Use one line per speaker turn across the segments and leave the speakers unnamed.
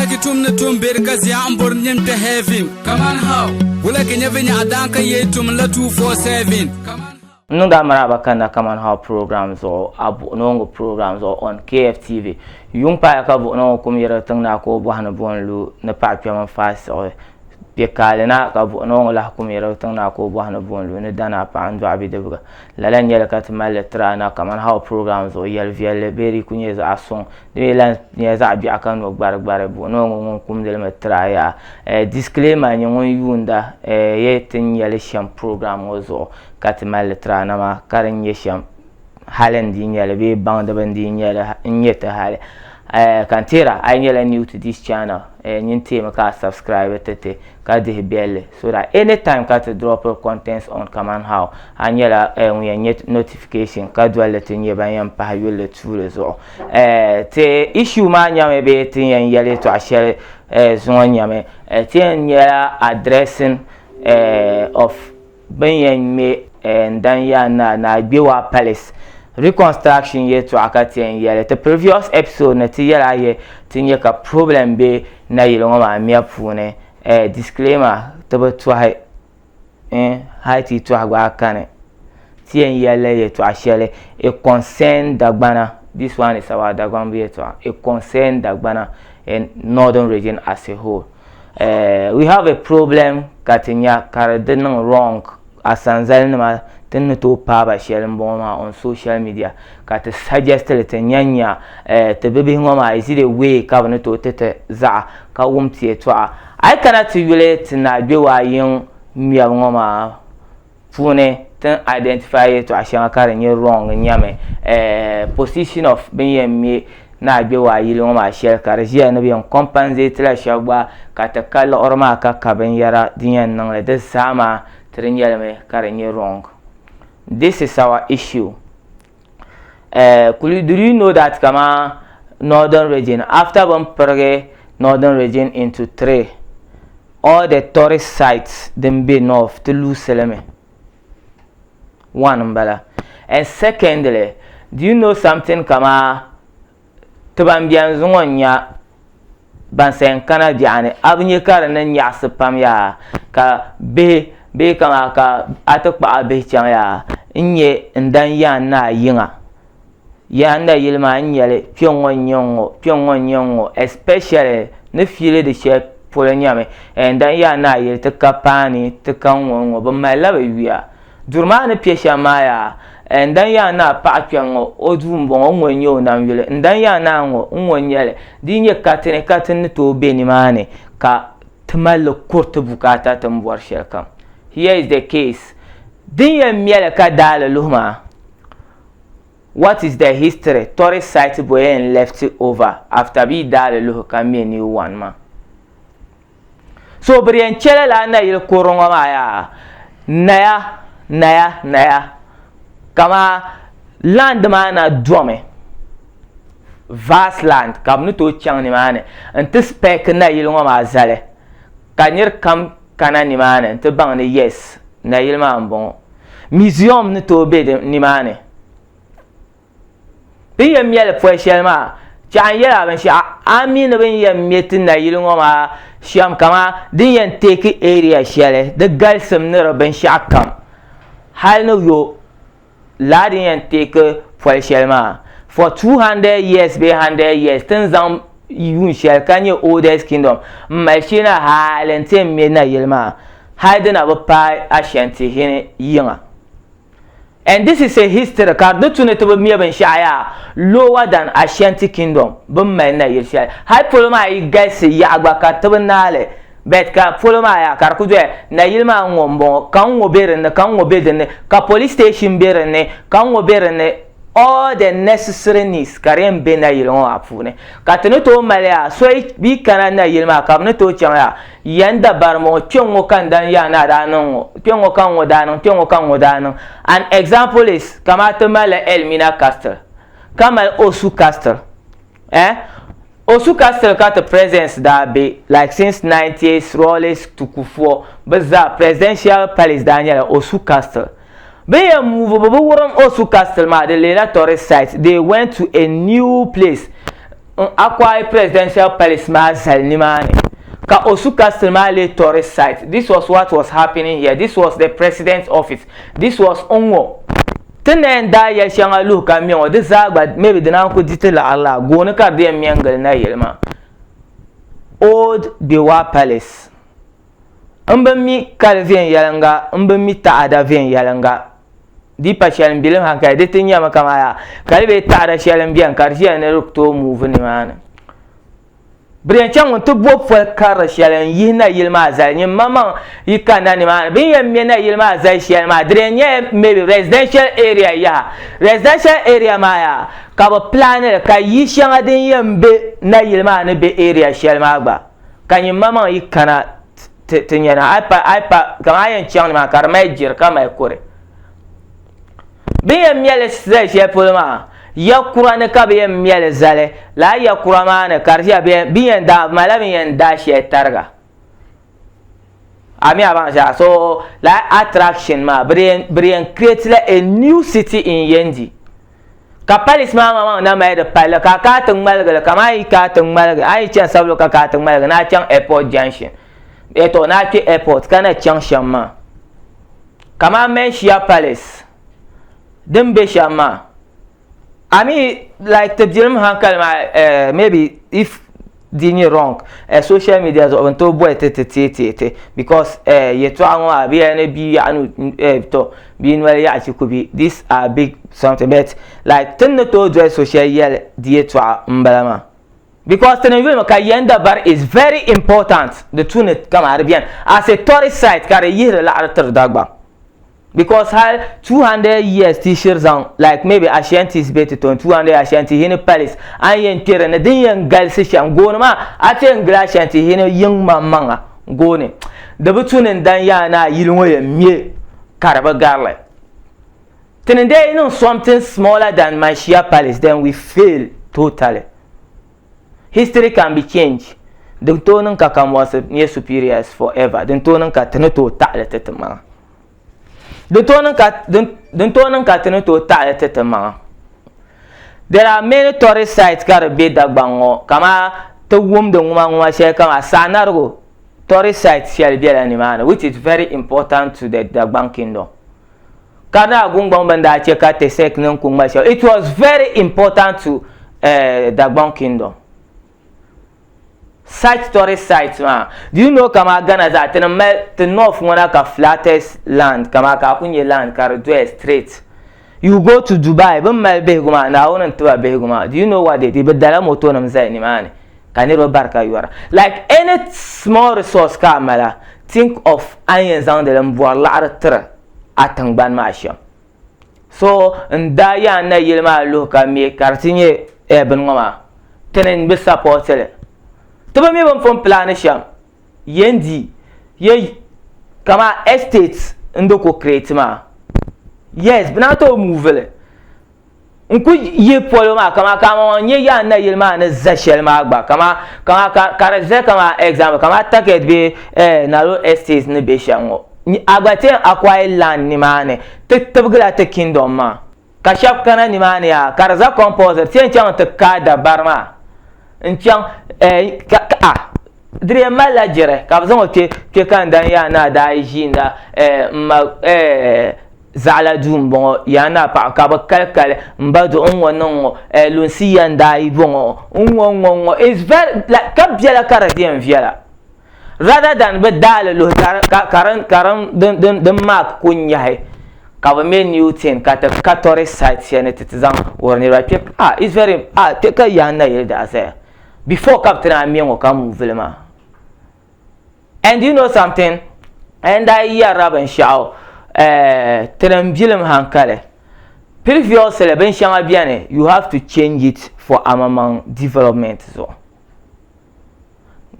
Ki tum ni tum beri ka zia n bori nim kpe heaven. Kaman how? Wula ki nyɛ vinyaɣa daan ka yee tum la 247. Kaman. N niŋdi a
maraaba kanna Kaman How program zuɣu a buɣinooŋɔ program zuɣu on KFTV. Yuŋ paaya ka buɣinooŋɔ kum yirigi tiŋ naa ka o bɔhi ni bo n-lu ni paɣa kpɛm n faai siɣi kpe kaali na ka buɣinooŋɔ lahi kum yirigi tiŋ naa ka o bɔhi ni bo n-lu ni danaa paɣa n dɔɣi bidibiga Lala n-nyɛ li ka ti mali li tiri a na kamani How program zuɣu yɛl viɛlli bee di ku nyɛ zaɣ suŋ. Di mi lan nyɛla zaɣ biɛɣu ka no gbarigbari. Buɣinoo ŋɔ ŋun kumdi li mi tiri a yaha. Eh, Disclaimer nyɛ ŋun yuunda eh ye ti ni nya li shɛm program ŋɔ zuɣu ka ti mali li tiri a na maa ka di ni nyɛ shɛm hali n dii nya li bee baŋdiba n dii nya li n-nyɛ ti hali. Eh, ka n tihira a yi nyɛla new to this channel eh, nyin teemi ka a subscribe ti ti ka dihi biɛlli so that anytime ka ti dropiri contents on kaman how a nyɛla eh, ŋun yɛn nyɛ notification ka dolli ti nyɛ ban yɛn pahi yulli tuuli zuɣu eh, ti issue maa nyɛmi bee ti yɛn yɛli yɛltɔɣa shɛli eh, zuŋɔ nyɛmi eh, ti yɛn nyɛla addressing eh, of bin yɛn ŋmɛ n dan yaa naa ni Agbewaa Palace reconstruction yɛltɔɣa ka ti yɛn yɛli ti previous episode ni ti yɛla yɛ ti nyɛ ka problem bɛ nayili ŋɔ maa mɛ puuni disclaimer ti bi tɔhi hali ti yi tɔhi gba a kani ti yɛn yɛli yɛltɔɣa shɛli it concern Dagbana this one is about Dagbanbu yɛltɔɣa it concern Dagbana in northern region as a whole. eh, we have a problem ka ti nya ka di di niŋ wrong asanzali nima tin ni tooi paaba shɛli n bɔŋɔ maa on social media ka ti suggest li ti nya nya eh, ti bibihi ŋɔ maa is it a way ka bi ni tooi ti ti zaɣa ka wum ti yɛtɔɣa a yi kana ti yuli ti naagbewa yiŋ ŋmɛbu ŋɔ maa puuni ti ni identify yɛltɔɣa shɛŋa ka di nyɛ wrong n nyɛmi eh, position of bin yɛn mi ni a gbɛ waa yili ŋɔ maa shɛli ka di ʒiya ni bi yɛn compensate la shɛba gba ka ti ka liɣiri maa ka ka binyɛra din yɛn niŋli di zaa maa ti di nyɛlimi ka di nyɛ wrong this is our issue eh, kuli do you know that kama northern region after bin pirigi northern region into three all the tourist sites din be north ti luusilimi one n bala and secondly do you know something kama ti ban biɛni zuŋɔ n-nya ban sayin kana biɛɣu ni, a bi nya ka di niŋ nyaɣisi pam yaa ka bihi bee kamaa ka a ti kpuɣi a bihi chaŋ yaa n-nya n-dani Yaan Naa yiŋa. Yaan Na yili maa n-nya li kpiɔŋŋɔ n-nya n-ŋɔ kpiɔŋŋɔ n-nya n-ŋɔ especially ni fiili di shɛli polo nyami ɛɛn dani Yaan Naa yili ti ka paani ti ka ŋ-ŋɔ ŋ-ŋɔ bɛ mali la bɛ yuya. Duri maa ni piɛ shɛm maa yaa eh N dan yaa naa paɣa kpɛŋ ŋɔ o duu m bɔŋɔ n ŋɔ n nyɛ o nam yuli N dan yaa naa ŋɔ n ŋɔ n nyɛli di yi nyɛ katini ka ti ni tooi be nimaani ka ti mali li kuri ti bukaata ti ni bɔri shɛli kam Here is the case Din yɛn mɛli ka daali luhi maa What is the history Tourist site bɔyɛn left over after bɛ yi daali luhi ka mɛ new one maa. So bi di yɛn chɛ lala a nayili kurili ŋɔ maa yaa? Naya, naya, naya. Kamaa land maa na domi. Vast land ka bɛ ni tooi chaŋ nimaani n-ti spec nayili ŋɔ maa zali ka nir kam kana nimaani n-ti baŋ ni yes, nayili maa m-bɔŋɔ. Museum ni tooi be nimaani. Din yɛn mɛli pɔi shɛli maa, chɛɣu n-yɛli a binshɛɣu a ni mi ni bɛ ni yɛn mɛ ti nayili ŋɔ maa shɛm kaman din yɛn teeki area shɛli di galisim ni di binshɛɣu kam hali ni yo laa din yɛn teeki pɔli shɛli maa for 200 years bee 100 years ti ni zaŋ yuun shɛli ka nyɛ oldest kingdom m-mali shee na hali nti yɛn mɛ nayili maa hali di na bi paai Ashanti hini yiŋa. And this is a history ka di tu ni ti bi mɛ binshɛɣu yaa lower than Ashanti kingdom bin mali nayiri shɛli hali polo maa yi galisi yaɣa gba ka ti bi naali but ka polo maa yaa ka di ku doya nayili maa n ŋɔ n bɔŋɔ ka n ŋɔ bɛ dinni ka n ŋɔ bɛ dinni ka police station bɛ dinni ka n ŋɔ bɛ dinni all the necessary needs ka di yɛn bɛ nayili ŋɔ maa puuni ka ti ni tooi mali yaa so yi kana nayili maa ka bi ni tooi chaŋ yaa Ya n dabari ŋɔ, kpeŋŋo ka n daa yaa ni a daa niŋ ŋɔ, kpeŋŋo ka ŋɔ daa niŋ, kpeŋŋo ka ŋɔ daa niŋ. An example is, kamani ti malila Elmina Castle, ka mali Osu Castle. Eh? Osu Castle ka ti presidents daa be, like since nineties, Rawlings to Kufuor, bɛ zaa, presidential palace daa nyɛla Osu Castle. Bɛ yɛn muvi mi bɛ wurim Osu Castle maa di leela tourist site, they went to a new place n acquire Presidential Palace maa zali nimaani ka Osu Castle maa lee tourist site, this was what was happening here, this was the President's office, this was n-ŋɔ. Ti ni yɛn daa yɛli shɛŋa luhi ka mɛ ŋɔ di zaa gba maybe dina n-kuli di ti laɣiri laa, gooni ka di yɛn mɛ n-gili nayili maa, Old Bewa Palace. M bi mi kali viɛnyɛliŋga, m bi mi taɣada viɛnyɛliŋga. Di pa shɛli m bilim hankali, di ti nyami kaman yaa kali bee taɣada shɛli m-beni ka di ʒiya ni di tooi muvi nimaani. Brian chaŋ ŋun ti bɔbi poli karili shɛli n-yihi nayili maa zali, nyimmamaŋ yi kanna nimaani. Bɛ ni yɛn me nayili maa zali shɛli maa, di di yɛn nyɛla maybe residential area yaha. Residential area maa yaa ka bɛ plan li ka yi shɛŋa din yɛn be nayili maa ni be area shɛli maa gba. ka nyin ma maŋ yi kana ti ti nyana a pa a pa kaŋ a yɛn chaŋ ni maa ka di mali jiri ka mali kuri bi yɛn mɛli zali shɛli polo maa ya kura ni ka bi yɛn mɛli zali laa ya kura maa ni ka di ʒiya bi yɛn daa mala bi yɛn daa shɛli tariga ami a baŋ zaa so laa attraction maa bi yɛn create la a new city in yendi Ka palisi maa maŋmaŋ na mali di palli ka a kana ti ŋmaligi li kamani a yi kana ti ŋmaligi a yi chani Sabulugu ka kana ti ŋmaligi ni a chaŋ Airport Junction ee tɔ ni a kpe Airport ka na chaŋ shɛm maa kamani Menshia Palace din be shɛm maa a mi like ti bilim hankali maa eh maybe if di nyɛ wrong eh, social media zuɣu bin tooi boli ti ti teei teei ti because eh, yɛtɔɣa ŋɔ maa bia ni bia yaɣa ni eh, to bia noli yaɣa ti ku bi these are big something but like tin ni tooi doli social yɛli di yɛtɔɣa n bala maa because tin n yulimi ka yɛn dabari is very important di tu ni kama di biɛni as a tourist site ka di yihiri laɣari tiri Dagbam because hal 200 years ti shiri zaŋ like maybe Ashantis be ti tɔni 200 Ashanti hini palace a ni yɛn kperi ni din yɛn galisi shɛm gooni maa a ti yɛn gili Ashanti hini yiŋ maŋ maŋa gooni di bi tu ni n dan yaa ni a yili ŋɔ yɛn me ka di bi garili ti ni dee niŋ something smaller than Manshia palace then we fail totally history can be changed din tooi niŋ ka Kamwasi nyɛ superiors forever din tooi niŋ ka ti ni tooi taɣili ti timaŋa Din tooi niŋ ka din din tooi niŋ ka ti ni tooi taɣali ti timaŋa there are many tourist sites ka di bɛ Dagbaŋ ŋɔ kama ti wumdi ŋuma ŋuma shɛli kama Saanarigu tourist site shɛli bɛla nimaani which is very important to the Dagbaŋ kingdom Karinaa Gungbaŋ bin daa chɛ ka Tesek niŋ ku ŋma shɛli it was very important to uh, Dagbaŋ kingdom Site tourist site maa do you know kamaa Ghana zaa ti ni mali ti north ŋɔ na ka flattest land kamaa ka a ku nyɛ land ka di doya straight you go to Dubai bɛ ni mali bihigu maa Naawuni n-ti ba bihigu maa do you know what they did bɛ dala motonim zali nimaani ka niriba bari ka yɔra like any small resource ka a mala think of a ni yɛn zaŋdi li m-bɔri laɣiri tiri a tiŋgbani maa shɛm. so n daa yaan na yili maa luhi ka mi ka di ti nyɛ eh bini ŋɔ maa tini n bi sapoti li ti bi mi bin pun pilaani shɛm yen di ye kama estate n di ku create maa yes bɛ naan tooi move li n ku yi polo maa kama ka ama ŋɔ nyɛ yaa nayili maa ni za shɛli maa gba kama kama ka ka di za kama example kama target bɛ eh, nalo estate ni bɛ shɛm ŋɔ a gba ti yɛn acquire land nimaani ti tibigila ti kingdom maa ka shɛba kana nimaani yaa ka di za compulsory ti yɛn chaŋ ti kaai dabari maa n chaŋ eh, ka, ka ah, di yɛn malila jɛrɛ ka bɛ zaŋ o kpe kpe ka n dan yaa ni a daa yi ʒiinda eh, m ma eh, Zaɣila duu n bɔŋɔ yaa naa paɣa ka bi kali kali n ba duɣu ŋɔ niŋ ŋɔ eh, lunsi ya n daa yi bɔŋɔ n ŋɔ n ŋɔ n ŋɔ is very like ka biɛla ka di di yɛn viɛla rather than bi daali luhi ka ka ka din ka din din din din mark ku nyahi ka bi mɛ new thing ka ti ka tourist site shɛli ni ti ti zaŋ wuhiri niriba kpɛ ah is very ah kpɛ ka yaa nayili daa zaya before ka bi ti daa mɛ ŋɔ ka move li maa. And do you know something? And I yɛrila binshɛɣu eh, tinim bilim hankali. Previously binshɛŋa bɛni you have to change it for amamaŋ development zuɣu.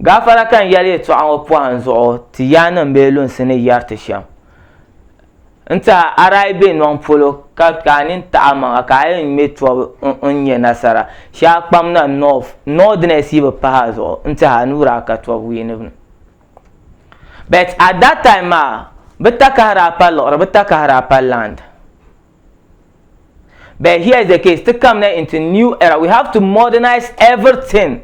Gaafara ka n yɛli yɛtɔɣa ŋɔ pɔhim zuɣu ti yaannim bee lunsi ni yɛri ti shɛm. N ti a, a daa yi be nɔŋ polo, ka ka a nini taɣi a maŋa, ka a yɛn ŋme tɔbu n nya nasara, shee a kpam na North, Northerners yi bi pahi a zuɣu, n ti a nuu daa ka tɔbu wiinibu ni. But at that time maa, bɛ takahi daa pa liɣiri, bɛ takahi daa pa land. But here is the case, ti kam na into new era, we have to modernize everything.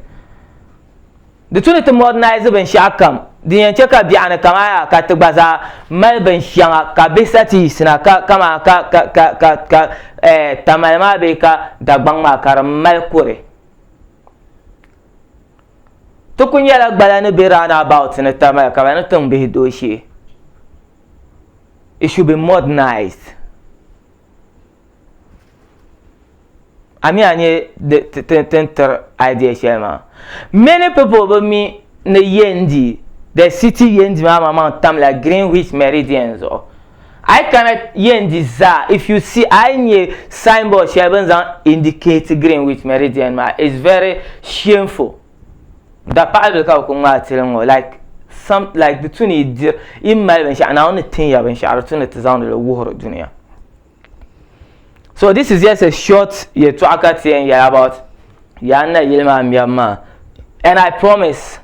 Di tu ni ti modernize binshɛɣu kam, di yɛn chɛ ka biɛɣu ni kama yaa ka ti gba zaa mali binshɛŋa ka bihi sa ti yiɣisi na ka kama ka ka ka ka ka eh, tamale maa bee ka Dagbaŋ maa ka di mali kuri. Ti ku nyɛla gbala ni be round about ni tamale ka bɛ ni tiŋ bihi dooshee. it should be modernized ami a nyɛ tin tiri idea shɛli maa many people bi mi ni yendi the city yendi maa maa maŋ tamla greenwich meridian zuɣu a yi kana yendi zaa if you see a yi nyɛ signboard shɛli bin zaŋ indicate greenwich meridian maa is very shameful Da paɣa bɛ ka bi ku ŋmaa tili ŋɔ like some like di tu ni dir i mali binshaɣu naawuni ni tin ya binshaɣu di tu ni ti zaŋdi li wuhiri duniya so this is just a short yɛltɔɣa ka ti yɛn yɛli about yaa na yili maa mɛbu maa and I promise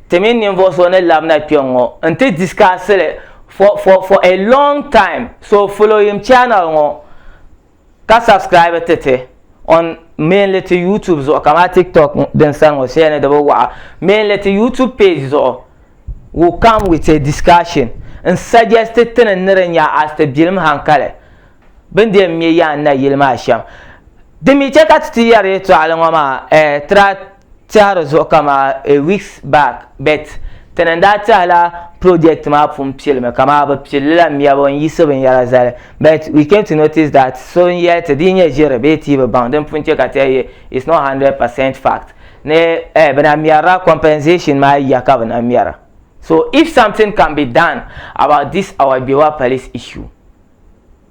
ti mini ninvuɣu so ni labina kpɛ ŋɔ n ti discuss li for for for a long time so following channel ŋɔ ka subscribe ti ti on mainly ti youtube zuɣu kamani tiktok din sani ŋɔ shɛli ni di bi waɣa mainly ti youtube page zuɣu will come with a discussion n suggest ti ni ni di nya as ti bilim hankali bin di yɛn me yaan nayili maa shɛm din mi chɛ ka ti ti yɛri yɛtɔɣali ŋɔ maa eh, tira tɛhiri zuɣu kamaa a weeks back but tini n daa tɛhila project maa pun pilimi kamaa bi pilli la mɛbu n yiɣisi binyɛra zali but we came to notice that so n yɛli ti di yi nyɛ ʒiri bee ti bi baŋ din pun chɛ ka ti yɛli it's not hundred percent fact ni eh bi na mɛrila compensation maa ya ka bi na mɛra so if something can be done about this our Gbewa police issue.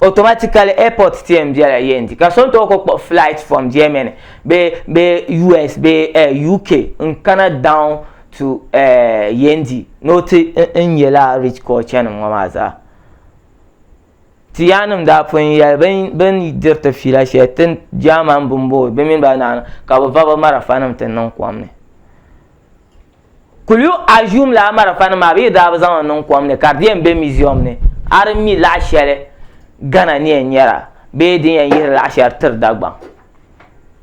Automatically airport tiɛ n bela yendi ka so n tooi ku kpuɣi flight from Germany bee bee US bee eh, UK n kana down to eh, yendi ni o ti n nya lala rich culture nim ŋɔ maa zaa. Ti yaannim daa pun yɛli bin bin diri ti fiila shɛli ti German bin boi bɛ mini ba naana ka bɛ va bɛ marafa nim ti niŋ kom ni. Could you assume lala marafa nim maa bɛ yi daa bi zaŋ li niŋ kom ni ka di yɛn be museum ni a di mi laɣa shɛli Ghana ni yɛn nyɛra bee din yɛn yihiri laɣa shɛli tiri Dagbaŋ?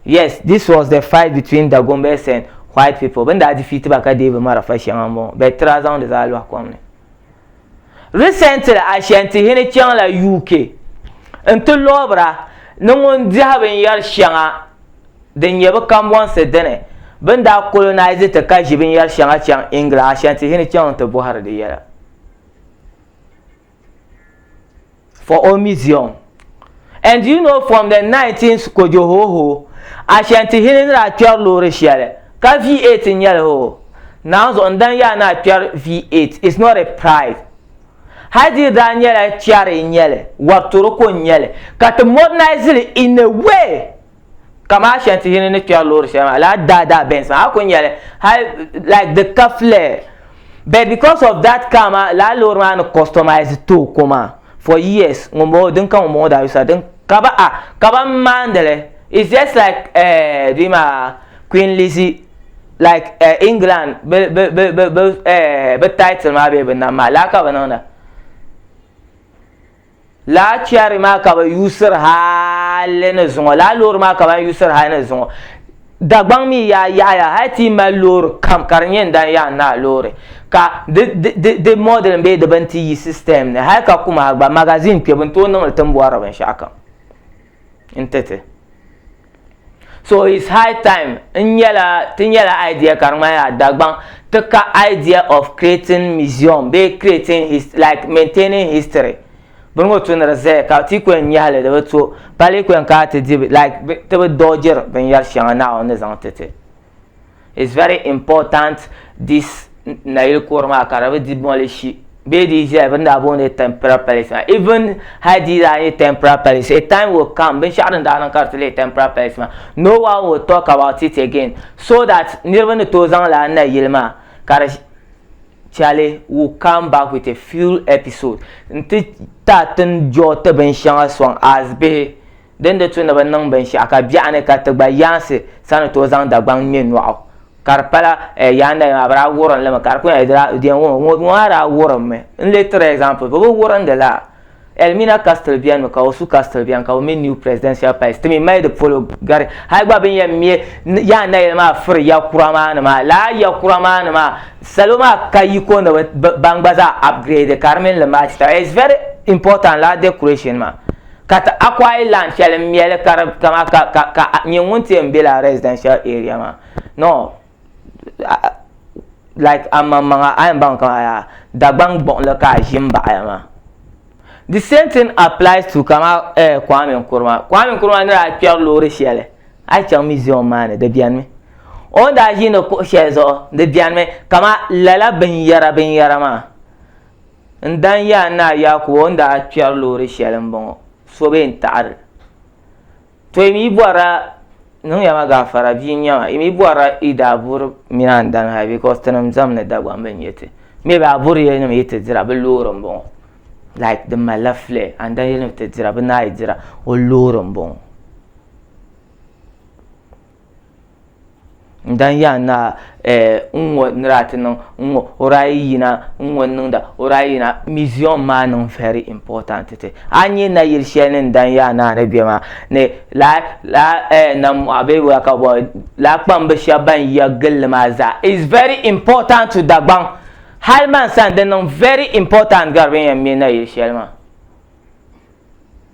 Yes, this was the fight between Dagombas and white people, bɛ ni daa defeat ba ka deei bɛ marafa shɛŋa m-bɔŋɔ but tiri a zaŋ di zaa lɔhi kom ni. Recently Ashantihini chaŋ la UK n ti lɔbira ni ŋun diɛhi binyɛri shɛŋa din nyɛ bi kambɔnsi dini bini daa colonise ti ka ʒi binyɛri shɛŋa chaŋ England Ashantihini chaŋ n ti bɔhiri di yɛla. for own museum. And do you know from the 19th kojo hoo hoo Ashanti hili ni daa kpɛri loori shɛli ka V8 n-nyɛli hoo naanzuɣu n-dan yaa ni a kpɛri V8 is not a pride hali di daa nyɛla kpɛri n-nyɛli wari toroko n-nyɛli ka ti modernize li in a way kamaa shɛli ti yini ni kpɛri loori shɛli maa laa daa daa Benz maa a ku nyɛli hali like di ka flare but because of that car maa laa loori maa ni customize too ko maa for years ŋun bɔŋɔ din ka ŋun bɔŋɔ daa yusa din ka ba a ka ba n maandili it's just like uh, di maa Queen Lizzie like uh, England bi bi bi bi bi uh, bi title maa bee bi nam maa laa ka bi niŋda Laa chɛri maa ka bɛ yuusiri hali ni zuŋɔ, laa loori maa ka ban yuusiri hali ni zuŋɔ. Dagbaŋ mi yaa yaɣiya hali ti yi mali loori kam ka di nyɛ n dan yaɣi n naa loori ka di di di di modeling bee di bini ti yi system ni hali ka Kumaha gba magazine kpɛbu n tooi niŋ li ti ni bɔhiri binshɛɣu kam. n ti ti so it's high time n nyɛla ti nyɛla idea ka di ŋmanila dagbaŋ ti ka idea of creating museum bee creating his like maintaining history bini ŋɔ tu ni di zaya ka ti kuli nyɛhili di bi to pali kuli ka ti di like ti bi dɔɔjiri binyɛri shɛŋa naawuni ni zaŋ ti ti it's very important this nayili kɔr maa ka di bi di mɔlishi bee di zɛya bin daa booni temporal palace maa even hali di daa nyɛ temporal palace a time will come binshɛɣu din daa niŋ ka di ti leei temporal palace maa no one will talk about it again so that niriba ni tooi zaŋ lala nayili maa ka di Charlie will come back with a few episode n ti taati n jɔɔti binshɛŋa sɔŋ as bihi Di ni di tu ni bi niŋ binshɛɣu ka biɛɣu ni ka ti gba yaansi sa ni tooi zaŋ Dagbaŋ ŋme nɔɣu. Ka di pala eh, yaa nayi maa, bɛ daa wurim li mi ka di kuli eh, di daa, ŋɔ, ŋɔ, ŋɔ maa daa wurim mi. N leei tiri example, bɛ bi wurindi la? Elmina Castle beni mi, ka Osu Castle beni, ka bɛ me New Presidential Palace. Ti mi mali di polo gari. Hali gba bɛ ni yɛn me yaa nayili maa firi ya kura maa ni maa, lala ya kura maa ni maa, salo maa ka yiko ni bɛ, bɛ, ban gba zaa upgrade ka di mini li match taba. It's very important lala decoration maa. Ka ti akwai land shɛli n mɛli ka di kama ka ka ka nyɛ ŋun ti yɛn be lala residential area maa no like amaŋmaŋa a yɛn baŋ kama yaa Dagbaŋ gbuɣinli ka a ʒi m baɣa ya maa the same thing applies to kama eh Kwame Nkrumah Kwame Nkrumah ni daa kpɛri loori shɛli a yi chaŋ museum maa ni di bɛni mi o ni daa ʒindi kuɣu shɛli zuɣu di bɛni mi kama lala binyɛra binyɛra maa. N dan ya a naa Yaakubu o ni daa kpɛri loori shɛli m-bɔŋɔ, so bee n-taɣiri li. Tɔ yi mi bɔrila, niŋya ma gaafara, bia n-nyɛ ma, yi mi bɔrila yi daa buri mini a ni dani hali because tinim zam ni Dagbaŋ bɛ n-nyɛ ti. Maybe a buri yili nima yi ti dira bɛ loori m-bɔŋɔ. Like di malila flare, a ni dan yili ni bɛ ti dira bɛ naa yi dira o loori m-bɔŋɔ. n dan yaa naa eh, n ŋɔ nira ti niŋ n ŋɔ o daa yi yina n ŋɔ niŋda o daa yi yina museum maa niŋ very important ti a nyɛ na yili shɛli ni n dan yaa naa ni bɛ maa ni laa laa eh, nam mɔɣu bee waa ka bɔ laa kpambi shɛba ban yiya gilli maa zaa is very important to Dagbaŋ hali man sani di niŋ very important gari bɛ ni yɛn mɛ na yili shɛli maa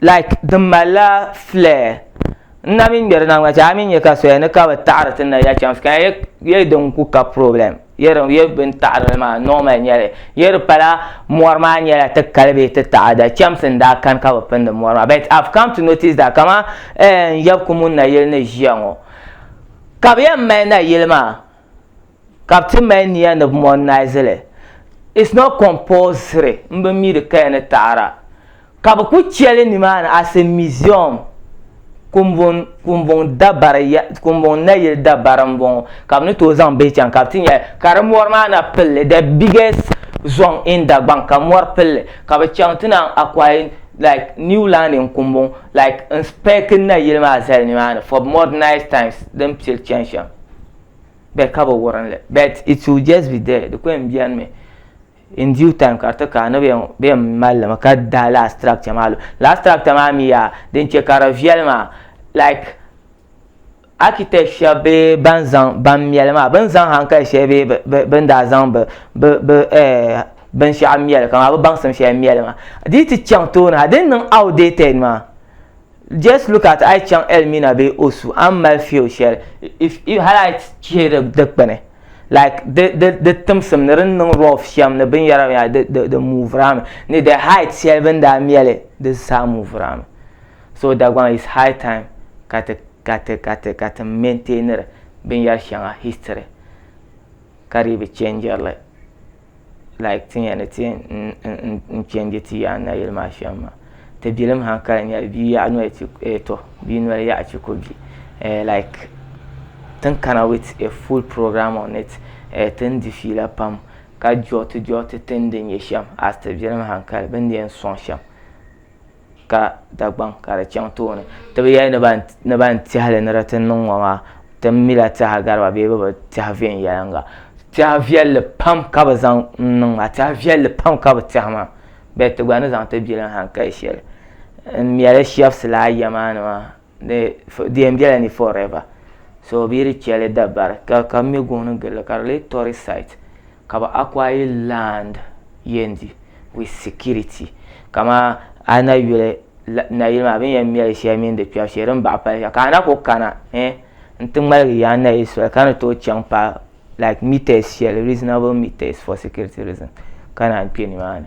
like din malila flare n na mi ŋmɛri niŋ a mi nya ka soya ni ka bi taɣari ti na ya chaŋ ka ye din ku ka problem ye din ye bin taɣari maa normal nyɛli ye di pala mɔri maa nyɛla ti kali bee ti taɣada chemsi n daa kani ka bi pindi mɔri maa but I've come to notice that kaman yabikumun nayili ni ʒiya ŋɔ ka bi yɛn mali nayili maa ka bi ti mali niya ni bi modernize li it's not compulsory n bi mi di kaya ni taɣada ka bi ku cheli nimaani as a museum kumbun kumbun dabari ya kumbun nayili dabari n bɔŋɔ ka bi ni tooi zaŋ bihi chaŋ ka bi ti nya ka di mɔri maa na pilli the biggest zɔŋ in Dagbaŋ ka mɔri pilli ka bi chaŋ ti naan acquire like new land in kumbun like n spec nayili maa zali nimaani for modernize times din pili chani shɛm. bɛ ka bi wurin li but it will just be there di ko yɛn bɛni mi in due time ka di ti ka ni bɛ yɛn mali mi ka daai last structure maa lu last structure maa mi yaa din chɛ ka di viɛli maa like architect shɛba bee ban zaŋ ban mɛli maa bɛ ni zaŋ hankali shɛli bee bɛ bɛ bɛ ni daa zaŋ bɛ bɛ bɛ eh, binshɛɣu mɛli kaman bɛ baŋsim shɛli mɛli maa di yi ti chaŋ tooni ha di ni niŋ outdated maa just look at a yi chaŋ Elmina bee Osu a ni mali feel shɛli if if hali a yi chihi di dikpuni like di di di timsim ni di ni niŋ rough shɛm ni binyɛra binyɛra di di di move-ila mi ni the height shɛli bini daa mɛli di zaa move-ila mi so Dagbaŋ it's high time ka ti ka ti ka ti ka ti maintain-iri binyɛri shɛŋa history ka di yi bi change-iri li. like ti nya ni ti n change ti yaɣa nayili maa shɛm maa ti bilim han kali nyɛli bia yaɣa noli ti eh, to bia noli yaɣa ti ko bia eh, like tin kana with a full program on it eh, tin di fiila pam ka jɔti jɔti tin di nyɛ shɛm as ti bilim han kali bin di yɛn sɔŋ shɛm ka Dagbaŋ ka di chaŋ tooni ti bi yɛli ni ban tɛhili ni di ti niŋ ŋɔ maa ti mila tɛha gariba bee bi bi tɛha viɛnyɛliŋga tɛha viɛlli pam ka bi zaŋ niŋ maa tɛha viɛlli pam ka bi tɛhi maa bɛd ti gba ni zaŋ ti biliŋ hankali shɛli n mɛli shɛbisi laa ya maa ni maa di yɛn bela ni forever so bɛ yi di cheli dabari ka ka mɛ gooni gili ka di lee tɔri site ka bɛ acquire land yɛn di with security kamaa a na yuli nayili maa bini yɛn mɛli sheli mini di kpɛbu shee din baɣa pali ka a na kuli kana eh n ti ŋmaligi yaa nayili soli ka ni tooi chaŋ pa like meters sheli reasonable meters for security reason ka naan kpɛ nimaani.